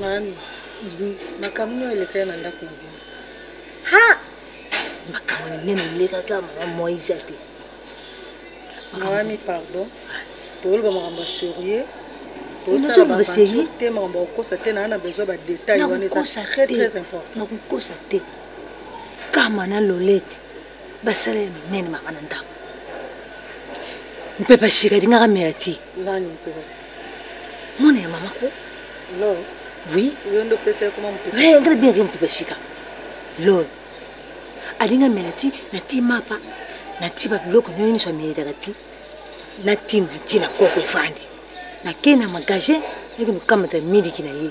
Mami, makambo nini elekaki na ndako na bino? Ha! Makambo nini elekaki na mama Moise te? Mami, pardon. Toloba makambo ya sérieux. Tosala ba sérieux te makambo ya kokosa te na na besoin ba détails wana eza très très important. Na kokosa te. Kama na Lolette basala ya minene mama na ndako mpe bashika alingaka mela te nani mpe basi mwana ya mama ko lo oui yo nde opesa ye koma mpe basi ngana bien rien mpe bashika lo alinga mela ti na ti mapa na ti ba biloko nyo nyonso amelelaka ti na ti na ti na koko efandi nakei na magasin nakende kokamata miliki na ye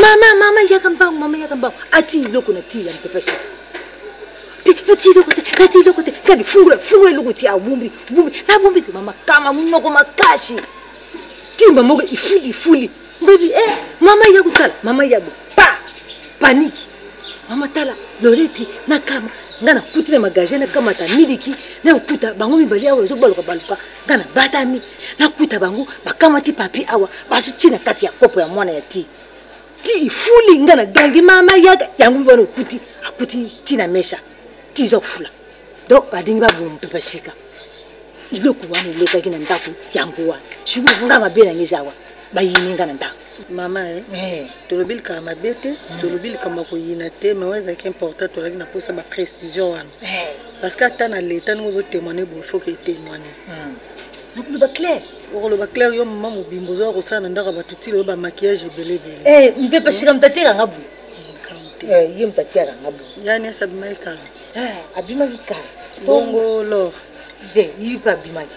mama mama yaka mbangu mama yaka mbangu ati eloko na tii ya mpepa sika te ati eloko te ati eloko te kadi fungula fungula eloko ti abumbi bumbi nabumbi te mama kama monoko makasi timba moko ifuli ifuli mbebi e mama ya kotala mama ya bo pa paniki mama tala loreti na kama nga nakuti na magasin nakamata miliki nakokuta bango mibali awa ezobaluka baluka nga nabatami nakuta bango bakamati papi awa bazotie na kati ya kopo ya mwana ya ti ti ifuli nga nagangi mama yaka yango mibana okuti akuti ti na mesa ti eza kofula donc balingi baboma mpe basika iloko wana elekaki na ndako yango wana sikoyo nga mabe na ngai eza wana bayini nga na ndako mama eh, eh. tolobi likambo mabe te mm. tolobi likambo ya koyina te mais oyo ezalaki important tozalaki na mposa baprécision wana eh. parce que ata na leta ndenge ozotémoigne boye faut ke etémoigne nakoloba mm. claire okoloba claire yo mama mobimba ozoya kosala na ndako ya bato ti loyo bamaquillage ebele ebele eh, mpe pasika moto ateyaka nga boye mm, ye moto ateyaka nga boye yani esi abimaki kala abimaki kala bongo lor te ye mpe abimaki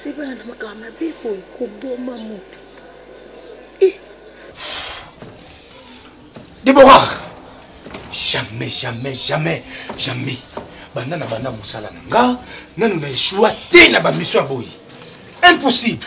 asebana na makambo mabe boye koboma moto eh. debora jamais jamais jamais jamais banda na banda mosala na nga nanu na eshua te na bamiso ya boye impossible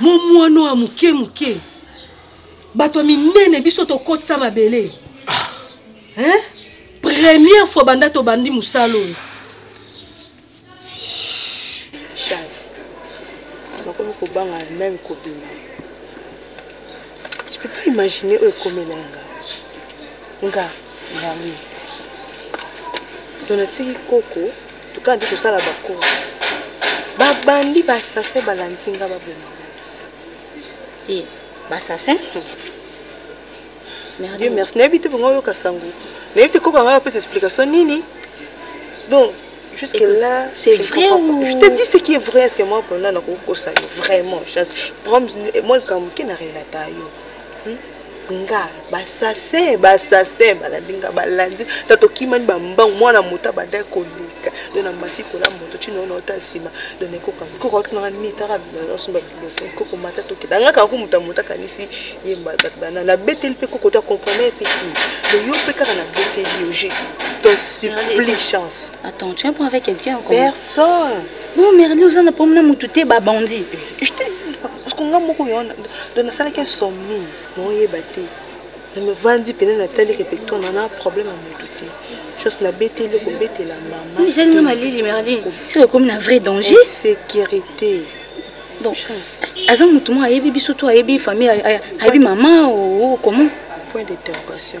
momwano ya moke moke bato ya minene biso tokotisa mabele ah. hein? première fois banda tobandi mosala oyo nakomi kobanga meme kobima je peux pas imaginer oyo ekomela nga nga ngai to natiki koko Toka nde kosala ba course. Ba bandi ba assassin ba landinga ba boma. Ti ba assassin. Merci. Dieu merci. Nayebi te bongo yoka sango. Nayebi te koko anga pesa explication nini. Donc jusque là c'est vrai ou... je te dis ce qui est vrai est-ce que moi pendant na kokosa vraiment chance. Problème moi le kamuke na relata yo. Hmm? nga basase basase balandi nga balandi ta tokimani bambangu mwana moto abandaki koleka do na mati kola moto cinoona ota nsima do nakoka koko atunaka nini taka bilosomba biloko koko mata tokenda nga kaka komuta moto akanisi ye mbazakdana nabeteli mpe koko ta comprendre mpe ki do yo mpe kaka nabeteli yo je te supplie chance attends tu es pas avec quelqu'un encore personne non merli oza na problème na moto te babandi Parce que nga moko yon do na sala ke somni na oyeba te na me vandi pene na tali ke pe to na na problème à mutu te chose na bete le ko bete la maman mais j'ai nga malili merlin c'est comme na vrai danger sécurité bon chance aza mutu mo ayebi biso to ayebi famille ayebi maman ou comment point d'interrogation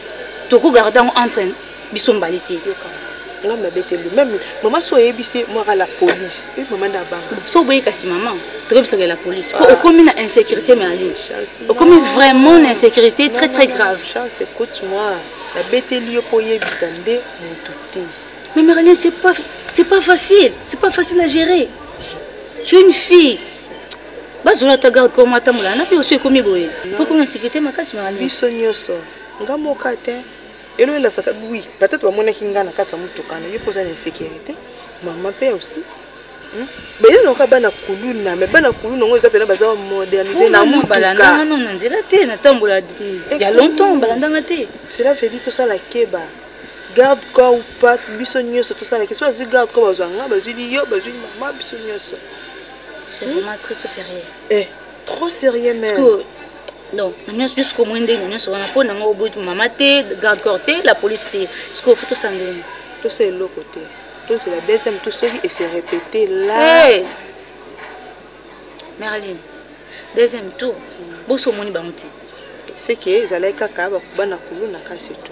Toko garde yango entre biso mbale te. Nga mabe te lui même maman so yebisi moi la police et maman na banga. So boye kasi maman toyebisa la police po ah. okomi na insécurité mais ali. Okomi vraiment na insécurité très très grave. Chance écoute moi. La bête lui po yebisa nde mutu te. Mais Marilyn c'est pas c'est pas facile, c'est pas facile à gérer. Tu es une fille bazwela ata garde corps mwa atambola na biso ekomi boye mpo ekomi na sécurité makasi mama biso nyonso nga moka te elo elasaka oui peut-être bamonaki nga na kati ya motuka na ye mpo oza na insécurité mama mpe aussi hmm? baye nayoka bana kuluna me bana kuluna yango eza mpena baza modernize na motuka na nzela te natambola eh, ya longtemps balandanga te cela veut dire tosala keba garde corps ou pas biso nyonso tosalaki so bazwi garde corps bazwa nga bazwi liyo bazwi mama biso nyonso C'est hmm? vraiment très très sérieux. Eh, trop sérieux même. Parce que donc na nyonso jusqu'au moins ndenge na nyonso wana mpo nanga oboyi mama te garde corps te la police te sikoyo fo tosala ndenge tosala eloko te tozela deuxième tout soki ese répété là hey! merline deuxième tour bosi omoni bango te seke ezalaki kaka bana kuluna kasi to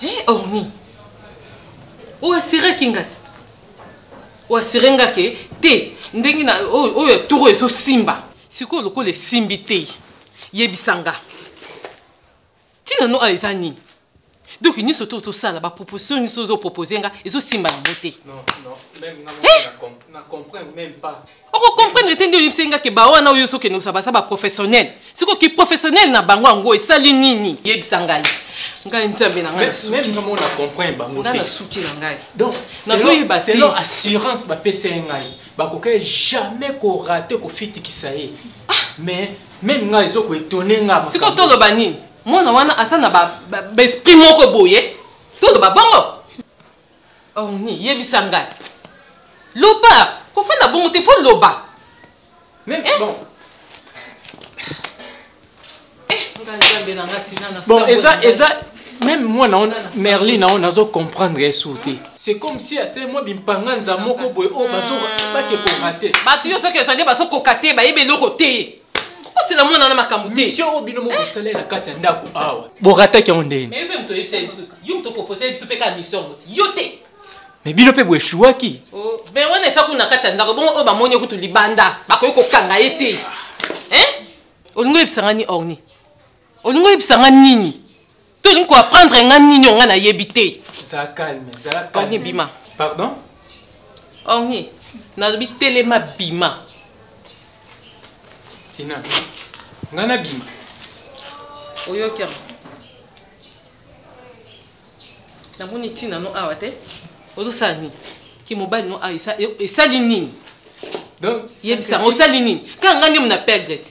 Hey, eh, Ormi, ou assuré Kingati Ou assuré nga que te ndenge na oyo toro ezo simba sikoyo lokola esimbi te yebisa nga ntina no a eza nini donc nyonso to tosala baproposition nyonso ozopropose nga ezosimba yango te oko comprendre te nde oyebisaki nga ke bawana oyo soki enosa baza baprofessionnel siko kiprofessionnel na bango yango esali nini yebisa ngai ngai nzambe na ngai nasuki na ngai nazoyeba te assurance bapesa ye ngai bakokaki jamais korate kofitikisa ye ah! mais meme ngai ezo koetone nga siko toloba nini mwana wana asa na baesprit moko boye toloba bongo Orni, yebisa ngai. Loba, kofanda bongo te, faut loba. Mais eh. bon. Eh, ngai nzambe na ngai tina na Bon, eza eza même moi na merlin na nazo comprendre esu te c'est comme si ase mwa bimpanganza moko boye oyo oh, bazo hmm. bake kokate bato yo soki ezwa nde bazo kokate bayebi eloko te okosela mwana wana makambo te misio oyo bino mokosala na kati ya ndako awa borataki yango ndeni mais mpe moto oyebisa biso yo moto opropose biso mpe kaka misio yango te yo te mais bino mpe boeshuwaki oh, me wana esa kuna na kati ya ndako bongo oyo bamoni yo kutu libanda bakoki kokanga ye te olingi oyebisanga ni orni olingi oyebisa nga nini to olingi koaprendre nga nini onga nayebi te zala calme zala calme bima pardon orni nalobi telema bima tina nga na bima oyoki yango namoni ntina no awa te ozosala nini kimobali no awa esali nini donc yebisa yango osali nini kaka nga nde mona perdre te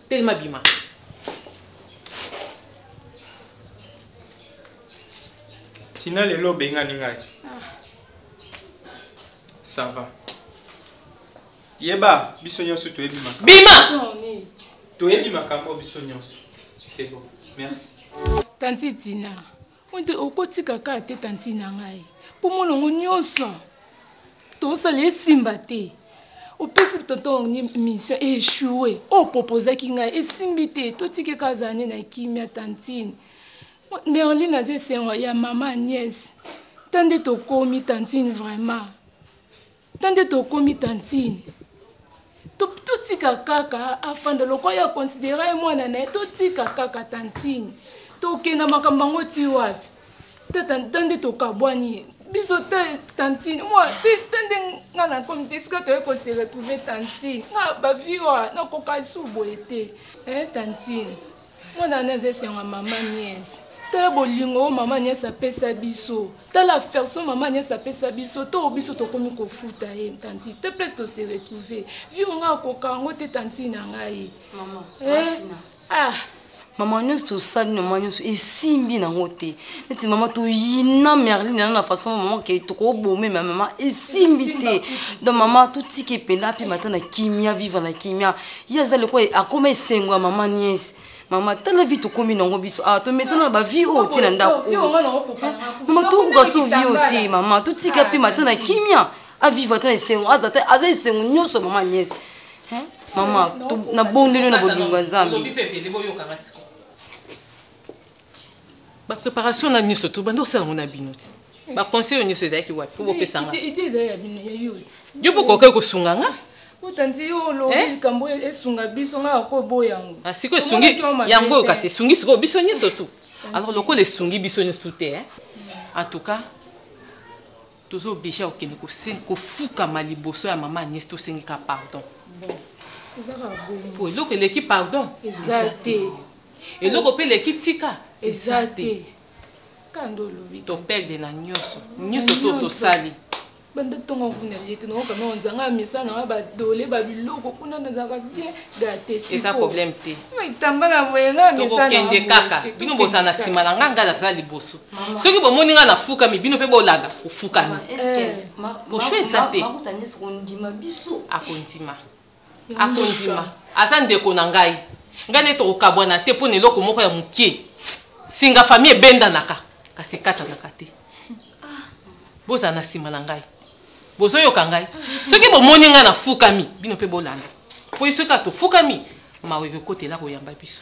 Telema bima. Tina lelo obengani ngai. Ah. Ça va. Yeba biso nyonso toyebi makambo. Bima. Toyebi makambo biso nyonso. C'est bon. Merci. Tanti Tina. Mwete okotika kaka te tanti na ngai mpo mwana yango nyonso tosala esimba te opesi tonton mission echoue oyo propozaki ngai esimbi te totiki kaka azala nde na kimia tantine merline aza esengo ya mama niese ta nde tokomi tantine vraiment Tande tokomi tantine. Totika kaka afanda lokola ya considera ye mwana na ye totika kaka tantine. Tokenda makambo yango ti wapi? Tata tande tokabwani biso te tantine moi te tande nga na komi te esika toye ko se retrouver tantine nga ba vie oyo nakoka lisusu boye te eh tantine mwana wana eza esengo ya mama niese tala bolingo oyo mama niese apesa biso tala afferson mama niese apesa biso to biso tokomi kofuta ye tanti te place tose retrouve vie onga akoka yango te tanti na ngai mama eh? ah mama nyonso tosali na mwa nyonso esimbi nango te neti mama toyina merline yana na façon mama ke tokobome ma mama esimbi te donc mama totika epela mpe mata na kimia viva na kimia ye aza leko akoma esengo ya mama niese mama tala vi tokomi nango biso awa ah, tomesana na bavi oyo te na ndako oyo mama tokokoka so vi oyo te mama totika mpe mata na kimia aviva ata na esengo aza esengo nyonso mama niese mama nabondeli yo na bolingo ya nzambe ba préparation na nyoso to bando sala ngona bino ti ba conseil nyoso ezaki wapi pour bopesa nga idée ezali ya bino ya yo yo po kokai kosunga nga otanzi yo olobi eh? likambo esunga biso nga ko boya yango ah, siko esungi yango kasi esungi siko biso nyoso tu alors lokola esungi biso nyoso tu te eh? en tout cas Toza oblige ya kokende kofukama liboso ya mama Agnès tosengi ka pardon. Bon. Eza ka bongo. Po eloko eleki pardon. Eza te. Eloko pe eleki tika. Eza te. Kando olobi. To perde na nyoso. Nyoso to tosali. banda ntongo kuna ye te nakoka nao nzanga ya misala nanga badole babiloko kuna nazalaka bien gate eza problème te maitambala boye nga misala tokokende kaka bino bozala na nsima na nga ngai nazala liboso soki bomoni ngai nafukami bino mpe bolanda kofukami boshwe eza te akondima akondima aza ndeko na ngai ngai nde tokokabwana te mpo na eloko moko ya mokie singa fami ebendanaka kasi ekatanaka te bozala na nsima na ngai bozoyoka ngai soki bomoni ngai nafukami bino mpe bolanda mpo ye soki atofukami mawa ekokotela koyamba biso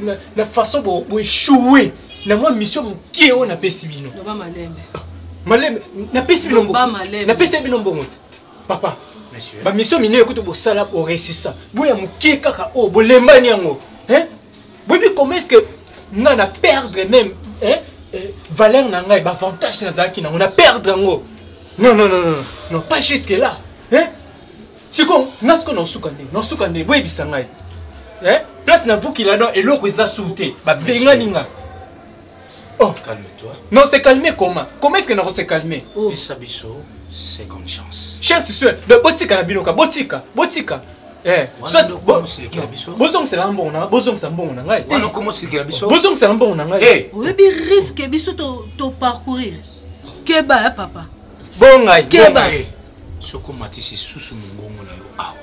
na, na façon bo, bo échouer na mwa mission moke oyo napesi bino loba malembe ah, malembe napesi bino mbongo napesi bino mbongo te papa bamisio minene kutu bosala boresisa boya moke kaka oyo oh, bolembani yango boyebi comment est ce que nga na perdre même hein, euh, valeur na ngai bavantage nazalaki nango na perdre yango non non non non non pas jusque là hein? siko nga siko naosuka nde naosuka nde boyebisa ngai eh? place navukila no eloko eza sur te babengani nga oh. calme-toi non se calme comment comment est ce que nako se calme oh. pesa biso seconde chance chance sur donc botika na bino ka botika botika eh, bozongisela mbongo na bozongisa mbongo na ngai bozongisela mbongo na ngai eh. oyebi riske biso toparcourir keba ya papa bongai keba Soki omatisi lisusu mongongo na yo awa,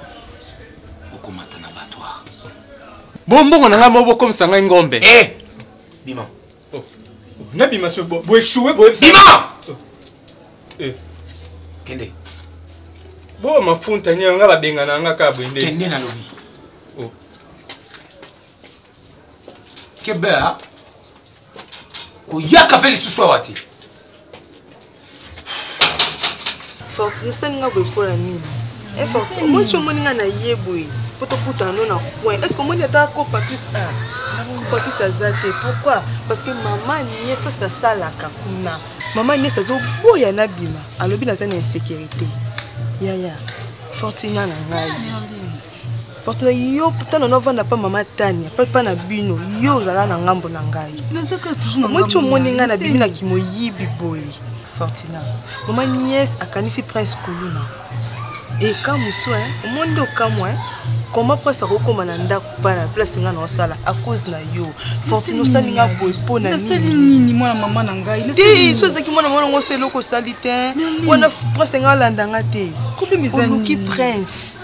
okomata na batware. Bo mbongo na ngai moko bokomisa ngai ngombe. Eh! Bima. Oh. Nabima so bo echoue bo. Bima! Eh. Kende. Bo mafunta nyenga babenga na nga ka bwende. Kende na lobi. kebea koyaka mpe lisusu awa te fortune osali nga boye mpo na nini eh, fortune omoni ti omoni nga na ye boye mpo tokutana no na coin est ce que omoni ata ko pakis a ah, ko pakis aza te pourquoi parce que mama nies mpasi nasalaka kuna mama nies azoboya nabima alobi naza na insécurité yaya fortina na ngai parce na yo tana novanda mpa mama tania mpe mpa na bino yo ozala na ngambo na ngai omweti omoni ngai na bimi na kimoyibi boye fortina mama niese akanisi prince kuluna ekamu swe omoni nde okamwa koma prince akokoma na ndako mpa na place ngai naosala a cause na yo fortune osali ngai boye mpo na nini mwana mama na ngai te so ezalaki mwana mwana ngo osa eloko osali te wana prince ngai alanda ngai te oluki prince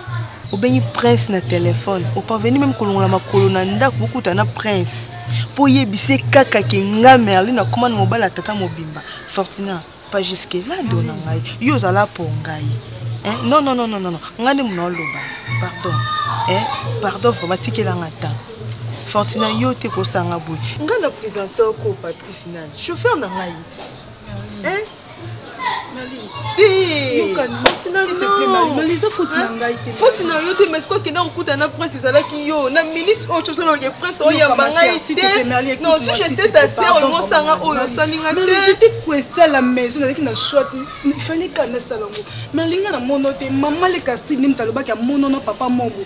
obengi prince na telefone oparveni meme kolongola makolo na ndako bokuta na prince mpo oyebisi ye kaka ke nga merli nakoma na mobali ya tata mobimba fortuna pa juske lando na ngai yo ozala mpo ngai non non non non non ngai nde mona oloba pardon eh, pardon vraiment tikelanga ta fortuna yo te kosanga boye ngai na presente oko patrice nani chauffeur na ngai foti na yo te mais soki okenda kokuta na prince ezalaki yo na minute oyo tozoloke prince oyamba ngai te non si jete ta ser olingosanga oyo osali nga teesala maison nazalaki na choix te ifale kanda esala yango mais alinga na mono te mama lekasti nde moto alobaki amonono papa mobo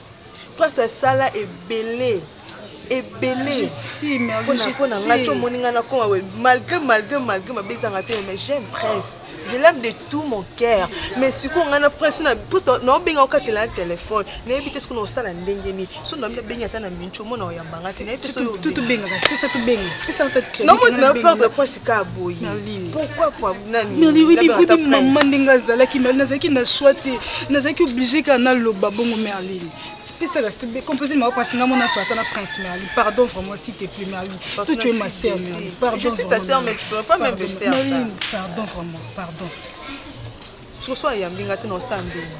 Pasta sala ebele ebele pona nga ti omoni nga nakoma boye malgré malgré malgré mabe ezanga te mais j'aime prince je l'aime de tout mon cœur mais sikoyo nga na prince naobenga okatela na telefone nayebi te soki naosala ndenge nini so nami nabengi ata na minci omona oyamba nga te nayebi te soki ka boye pourquoi kwa mama ndenge azalaki merline nazalaki na soi te nazalaki oblige kaka naloba bongo merline pesaka compose maka mpasi nga mona so ata na prince merline pardon vraiment si te plus merline to tu es ma sœur merline pardon pardon vraiment pardon Soki so ayambi nga te na osala ndenge.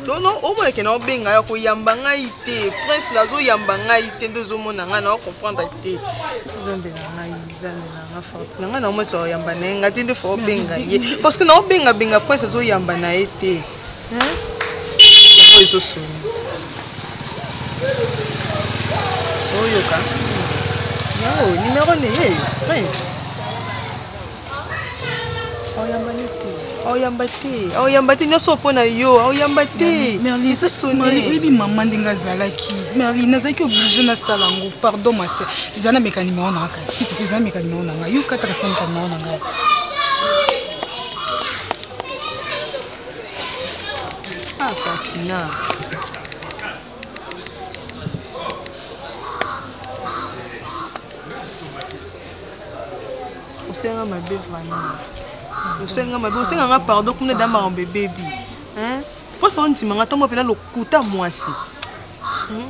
Dono omona ke na obenga ya koyamba ngai te. Prince nazo yamba ngai te nde ozomona ngai na comprendre te. Nzambe na ngai, nzambe na ngai forti. Na ngai na omona tsa yamba na ye nga te nde fo obenga ye. Parce que na obenga benga prince azo yamba na ye te. Hein? Yango ezo soni. Oyoka. Yo, numéro ne ye, prince. oyambani te oyamba te oyamba te nyonso mpo na yo oyamba te oyebi mama ndenge azalaki merli nazalaki oblige nasala yango pardon mase eza na meka nimero na ngai kasi eza na meka nimero na ngai yo kata kasi na meka nimero na ngai Ah, Fatina. osenga mabe vraiment osenga mabe osenga nga pardon kuna da makambo ebebi mposa ondima nga ntango mpena lokuta mwasi hmm?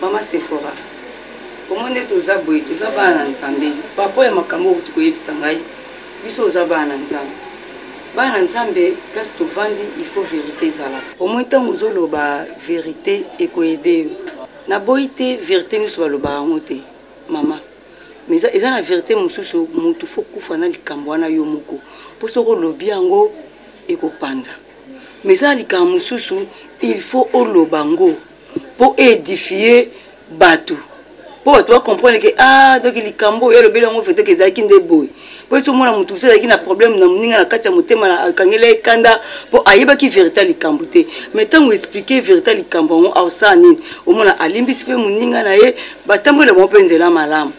mama sephora omoni ete oza boye toza bana na nzambe paraport ya makambo okuti koyebisa ngai biso oza bana na nzambe bana na nzambe place tovandi il faut verité ezalaka omoni ntango ozoloba verité ekoyede yo naboyi te verité nyonso balobaka yango te mama mais eza na verité mosusu motu fo kufa na likambo wana yo moko mpo soki olobi yango ekopanza mais eza na likambo mosusu il faut oloba yango mpo eedifie bato mpo bato bacomprendre ke a ah, donk likambo oyo alobeli yango vraitok ezalaki nde boye mpo esi omona moto mosusu azalaki na problème na moninga na kati ya motema akangeli ye kanda mpo ayebaki verité ya likambo te mais ntango explike verité ya likambo yango aosala nini omona alimbisi mpe moninga na ye batamboli na bango mpe nzela malamu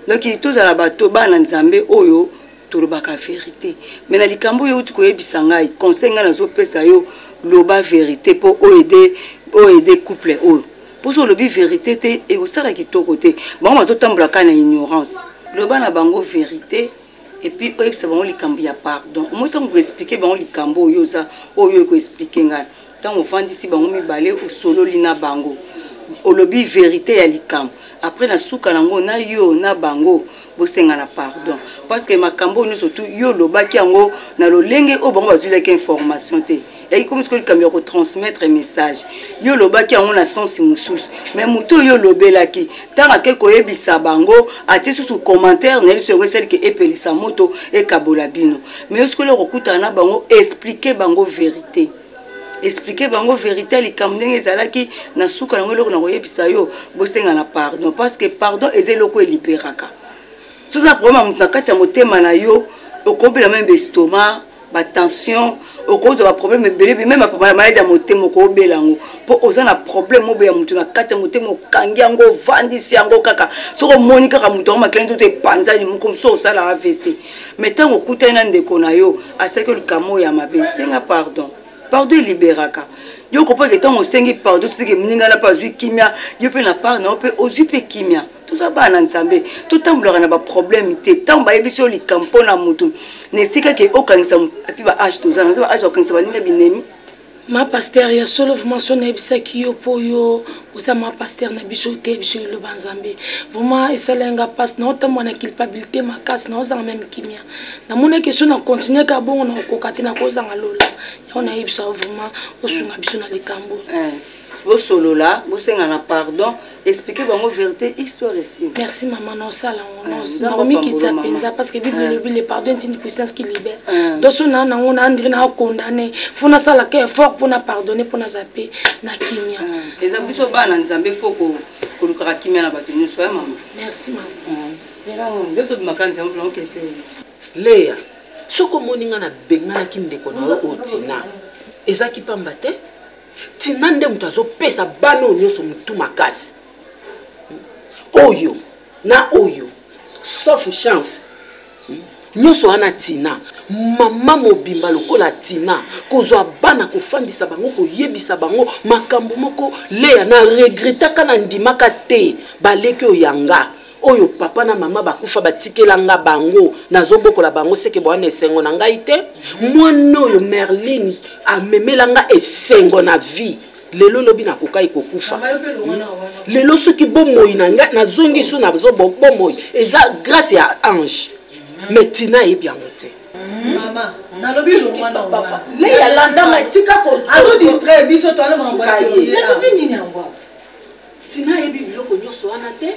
donk tozala bato bana nzambe oyo tolobaka verite me na likambo oyo euti koyebisa ngai conseil ngai nazopesa yo loba verite mpo oede oede couple oyo mpo so olobi verite te ekosala kitoko te bango bazotambola kaka na ignorance loba na bango verite epuis oyebisa bango likambo ya pardon omoi ntango koexplike bango likambo oyo oza oyo ekoexplike ngai Tango ofandisi bango mibale osololi na bango olobi verite ya likambo après na suka na ngo na yo na bango bosengana pardon parce que makambo oyo nyonso tu yo olobaki yango na lolenge oyo bango bazwilaki information te yaki komi sikoyo likambo ya kotransmettre message yo olobaki yango na sensi mosusu mais moto oyo olobelaki ntango akei koyebisa bango atie susu commentaire na ye lisusu yango esali ke epelisa moto ekabola bino mais yo sikoyo okokutana na bango explike bango verite Expliquer bango verite ya likambo ndenge ezalaki na suka nango eloko na koyebisa yo bosengana pardon parce que pardon eza eloko eliberaka soki oza problème ya moto na kati ya motema na yo okobela meme bestoma batension okozwa baproblème ebele ebele meme maladi ya motema okobela yango mpo oza na problème mobe ya moto na kati ya motema okangi yango ovandisi yango kaka soki omoni kaka moto yango makila nzoto epanzani moko mosusu osala avc mais ntango okutani na ndeko na yo asalaki likambo oyo ya mabe senga pardon pardon eliberaka yo okompaka ntango osengi pardon siteke moningana mpe azwi kimia yo mpe na part na yo mpe ozwi mpe kimia toza bana na nzambe totambolaka na baproblème te ntango bayebisi yo likambo mpo na motu na esika ke okangisa mpe baage toza na age ya kokangisa baninga binemi Ma pasteur ya solo vraiment so nayebisaki yo po yo oza ma pasteur na biso oteya biso liloba nzambe vraiment esalaki nga mpasi naotambwa na culpabilité makasi naozanga meme kimia namonaki so na continue ka bongo nakokoka te nakozanga lola yango nayebisa yo vraiment osunga biso na likambo eh. bosolola bosengana pardon expliquer bango verite histoire esili merci maman na osala yango ah, nakomikitisa mpenza parce que bible elobi ah. le pardon est une puissance qui libère ah. donc so naa nango na andri naa condamne fo nasalaka effort mpo na pardonne mpo naza mpe na kimia eza biso bana nzambe fo kolukaka kimia na bato nyonso ya mama merci mama nde tobimaka nzambe mpo naokende mpe leya soki omoni ngai nabenganaki ndeko na yo otina ezaki mpamba te Tina nde moto azopesa bana oyo nyonso motu makasi oyo na oyo sauf chance hmm? nyonso wana tina mama mobimba lokola tina kozwa bana kofandisa bango koyebisa bango makambo moko leya na regretaka na ndimaka te baleki oyanga oyo papa na mama bakufa batikela nga bango nazobokola bango seke bowana esengo na ngai te mwana oyo merline amemela nga esengo na vie lelo lobi nakokai kokufa lelo soki bomoi na ngai nazongi so nazo bomoi eza grâce ya ange mais tina ayebi yango te leya landama tika ko Tina ayebi biloko nionso wana te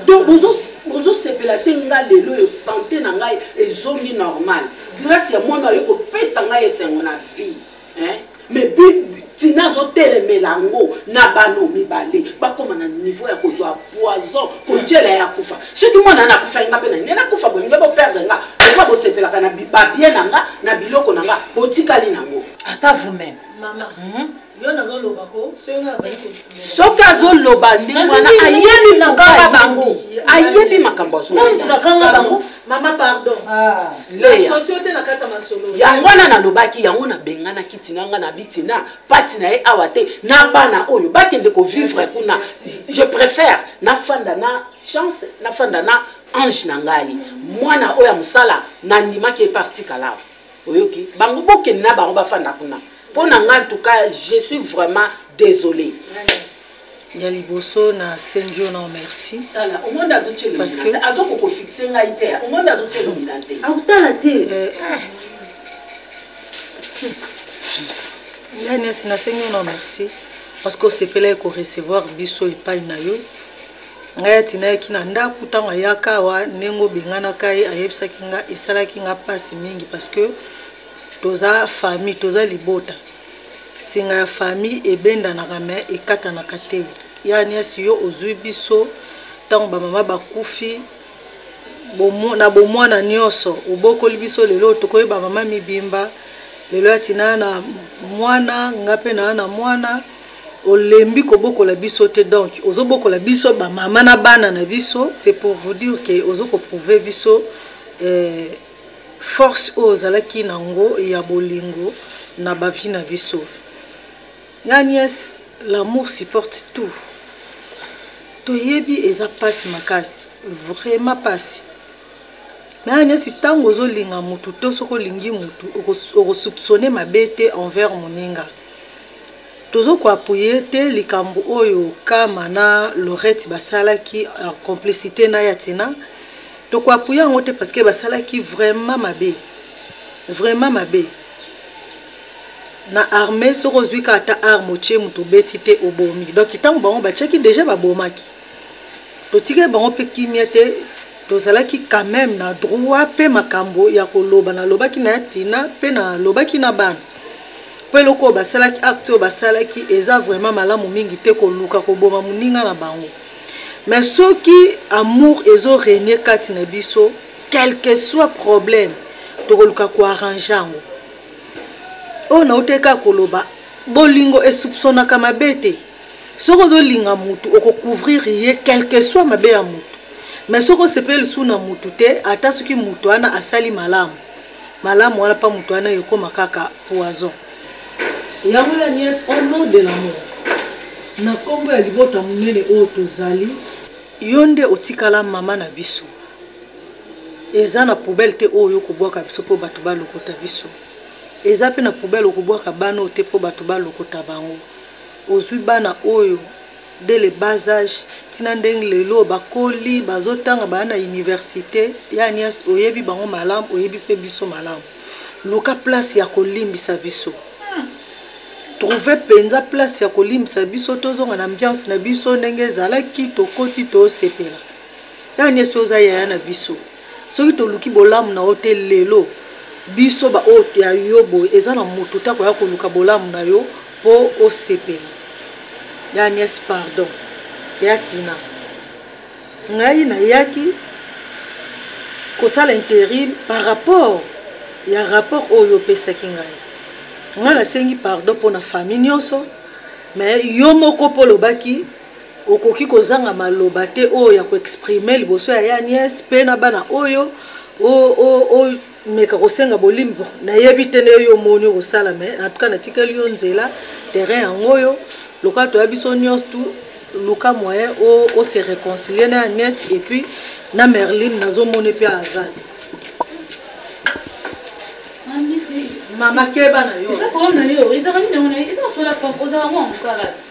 donc bozo bozo sepela te nga lelo yo sante na ngai ezongi normal grace ya mwana aye kopesa ngai esengo na vie hein mais tina azotelemela yango na bana mibale bakoma na niveau ya kozwa poison kotyela ya kufa soki mwana na akufa nga mpe na ngai nakufa boye nga boperdre nga lokola bosepelaka na babie na nga na biloko na nga botikali nango ata vous-même Yo nazo loba ko soki nga nabandi ko soki azo loba ndenge wana ayebi nakanga bango ayebi makambo azo nani tunakanga bango mama pardon ah. socio te na kati ya masolo yango wana nalobaki yango nabenganaki tina nga na bitina pati na ye awa te na bana oyo bakende kovivre kuna je préfère nafanda na chance nafanda na ange na ngai mwana oyo ya mosala nandimaki epartikala oyoki bango bokende na bango bafanda kuna mpo na nga ntuka je suis vraiment désolé ya liboso na sengi yo na omerci autala te eh, ah. yanes na sengi yo na omerci parce que osepelaki korecevoir biso epai na yo Ngai atindaki na ndaku tango ayaka awa ndenge obenganaka ye ayebisaki nga esalaki nga pasi mingi parce que toza famille toza libota singa ya famille ebendanaka mais ekatanaka te ya niasi yo ozui biso tango ba mama bakufi na bomwana nionso obokoli biso lelo tokoyi ba mama mibimba lelo atinda na mwana nga pe na na mwana Olembi kobokola biso te donc ozo bokola biso ba maman na bana na biso c'est pour vous dire que ozo ko prouver biso force oyo ozalaki na ngo ya bolingo na ba vie na biso nga nièce l'amour supporte tout toyebi eza pasi makasi vraiment pasi mais nga nièce tango ozo linga mutu to soko lingi mutu oko soupçonner mabe te envers moninga Tozo ko appuyer te likambu oyo Kama na Laurette basalaki en complicite na ya Tina. Toko appuyer yango te parce que basalaki vraiment mabe. Vraiment mabe. Na armee soki ozui kaka ata arme otie mutu obeti te obomi. Donc tangu bango batiaki dejà babomaki. totikaki bango mpe kimia te tozalaki quand meme na droit mpe makambo ya koloba nalobaki na ya tina mpe nalobaki na bana mpo eloko oyo basalaki acte oyo basalaki eza vraiment malamu mingi te koluka koboma moninga na bango mais soki amour ezo renie kati na biso quelque soit problème tokoluka koarrange yango oyo nautaki kaka koloba bolingo esoupsonaka mabe te soki ozolinga mutu okocouvrir ye quelque soit mabe ya mutu mais soki osepeli lisusu na mutu te ata soki mutu wana asali malamu malamu wana mpa mutu wana ekoma kaka poison yango ya niese au nom de l'amour na nkombo ya libota monene oyo tozali yo nde otikala mama na biso eza na poubele te oyo okobwaka biso mpo bato balokota biso eza mpe na poubele okobwaka bana oyo te mpo bato balokota bango Ozui bana oyo dès le bas age ti na ndenge lelo oyo bakoli, bazo tanga, baya na universite. Ya Agnes oyebi bango malamu, oyebi pe biso malamu. Luka place ya ko limbisa biso. Trouver penza place ya ko limbisa biso tozonga na ambiance na biso ndenge ezalaki tokoti to sepela. Ya Agnes yo oza yaya na biso. Soki toluki bolamu na yo te lelo, biso ba oyo ya yo boye eza na mutu te akoya koluka bolamu na yo po osepela. Ya nièce pardon. Ya Tina ngai na yaki kosala interim par rapport ya rapport oyo yo opesaki ngai. Ngai na sengi pardon pona famille nionso mais yo moko po olobaki. Okoki kozanga maloba te oyo ya ko exprimer liboso ya ya nièce mpe na bana oyo o o o meka kosenga bolim bon na yebi te nde yo omoni oko sala mais en tout cas na tikeli yo nzela terrain yango oyo lokola toya biso nionso tout luka moyen o o se reconcilier na ya nièce et puis na Merline nazo moni mpe aza mama keba na yo eza problème na yo ezaka nini yango na yo eza na sola pam ozala mwa mosala te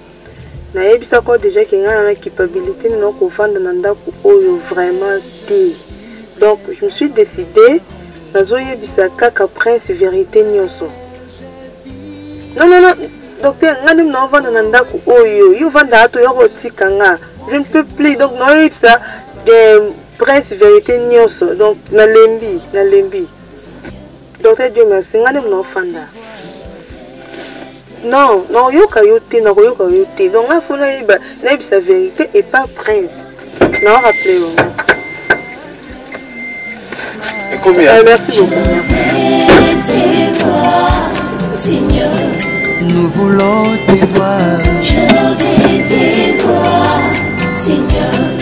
nayebisa ko deja ke ngai na culpabilité nini na kovanda na ndako oyo vraiment te donc je me suis décidé nazoyebisa kaka prince vérité nyonso non non non docteur ngai nde naovanda na ndako oyo yo ovanda ato ya kotika nga je ne peux plus donc naoyebisa prince vérité nyonso donc nalembi nalembi Docteur Dieu merci, nga nemu naofanda. Non, naoyoka yo te, nakoyoka yo te. Donc nga fona yeba, nayebisa vérité et pas prince. Nao rappeler yo. Et combien euh, Merci beaucoup. Seigneur, nous voulons te voir. Je vais te voir, Seigneur.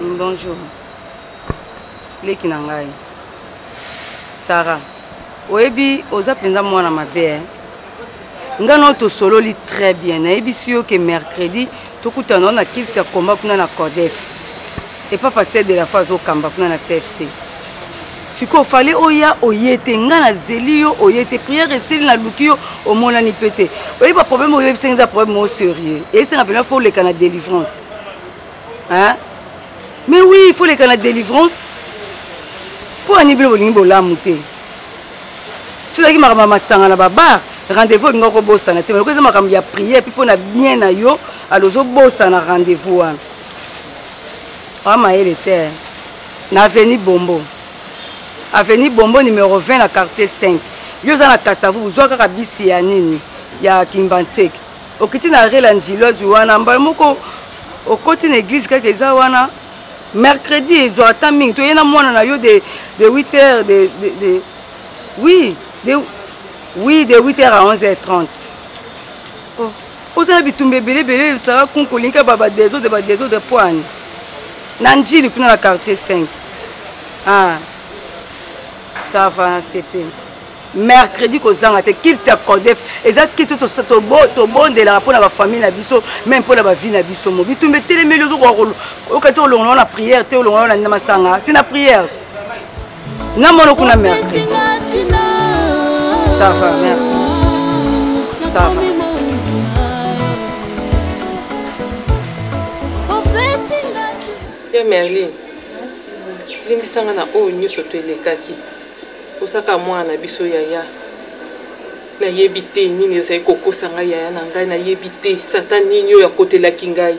Bonjour. Leki na ngai. Sarah, oyebi oza mpenza mwana mabe eh? ngai nao tosololi très bien nayebisi yo ke mercredi tokutana na kilte ya komba kuna na codef epa pasteur de la foi azokamba kuna na cfc sikoyo fale oya oye te ngai nazeli yo oye te prière esili naluki yo omonani mpe te oyebi baproblème oyo oyebisaki eza problème moko sérieux eyesanga mpenza fo oleka na délivrance hein mais oui il faut leka na délivrance mpo ani bino bolingi bolamu te soki ezalaki makambo ya masanga na babar rendez-vous olinga kobosana te maloko eza makambo ya prière mpe mpo na bien na yo alo ozobosana rendez-vous wana oa mayele te na aveni bombo aveni bombo numero 20 na quartier 5 yo oza na kasavu bozwa kaka bisi ya nini ya kimbanseke okiti na rela njilo azwi wana mbala moko okoti na église kaka eza wana mercredi ezwa ata mingi toye na mwana na yo de, de 8 heures de, de, de, oui de, oui de 8 heures à 11 heures 30 oh. oza na bitumba ebele ebele esala kunkolinka ba badesode badesode mpo ani na njili kuna na quartier 5 ah. ça va na sepe mercredi kozanga te kilte ya codef eza kilte tobondelaka mpo na bafamille na biso meme mpo na bavie na biso mo bitumba etelemeli okati olongola ngo na priere te olongola ngo na masanga si na priere na mono kuna mercredi ça va merci ça va ya merlin limbisanga na oyo nyonso to elekaki Ozaka mwana na biso yaya. Na yebi te nini ezali ko kosa ngai yaya na ngai na yebi te satan nini oyo akotelaki ngai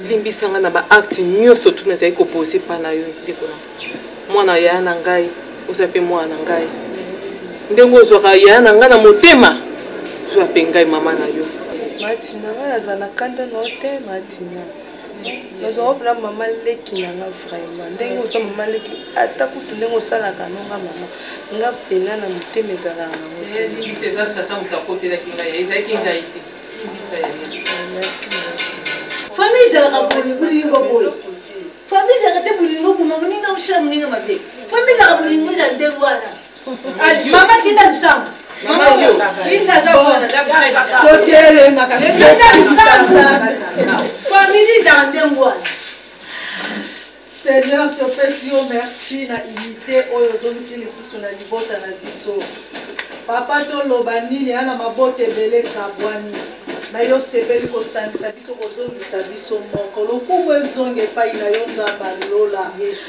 limbisa ngai na ba acte nyoso tu nazali ko pose pa na yo ndeko na mwana yaya na ngai oza pe mwana na ngai ndenge ozwaka yaya na ngai na motema zwa pe ngai mama na yo Matina ngai nazala kanda na yo te Matina. nazwaka mpena mama leki na nga vraiment ndenge oza mama leki ata kutu ndenge osalaka no nga mama nga mpena na motema ezalaka nango famille ezalaka boye bolingo boye famille ezalaka te bolingo boma moninga osala moninga mabe famille ezalaka bolingo ezala ndenge wana Maman tinda lisango. Maman yo. Linda za mwana za kusaidia. Tokele makasi. Linda lisango. Familie za ndembo wana. Seigneur, topesi yo merci na unité oyo ozongisi lisusu na libota na biso. Papa toloba nini ya na mabota ebele kabwani na yo osepeli kosangisa biso kozongisa biso moko lokumu ezonga epai na yo nzambe alola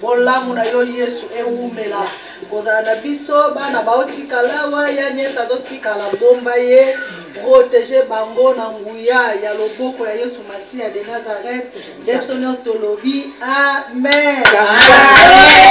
Bolamu na yo yesu ewumela kozala na biso bana baotikalawa ya nyesa azotikala bomba ye protege bango na nguya ya loboko ya yesu masiya de nazareth nde biso nyonso tolobi amen, amen.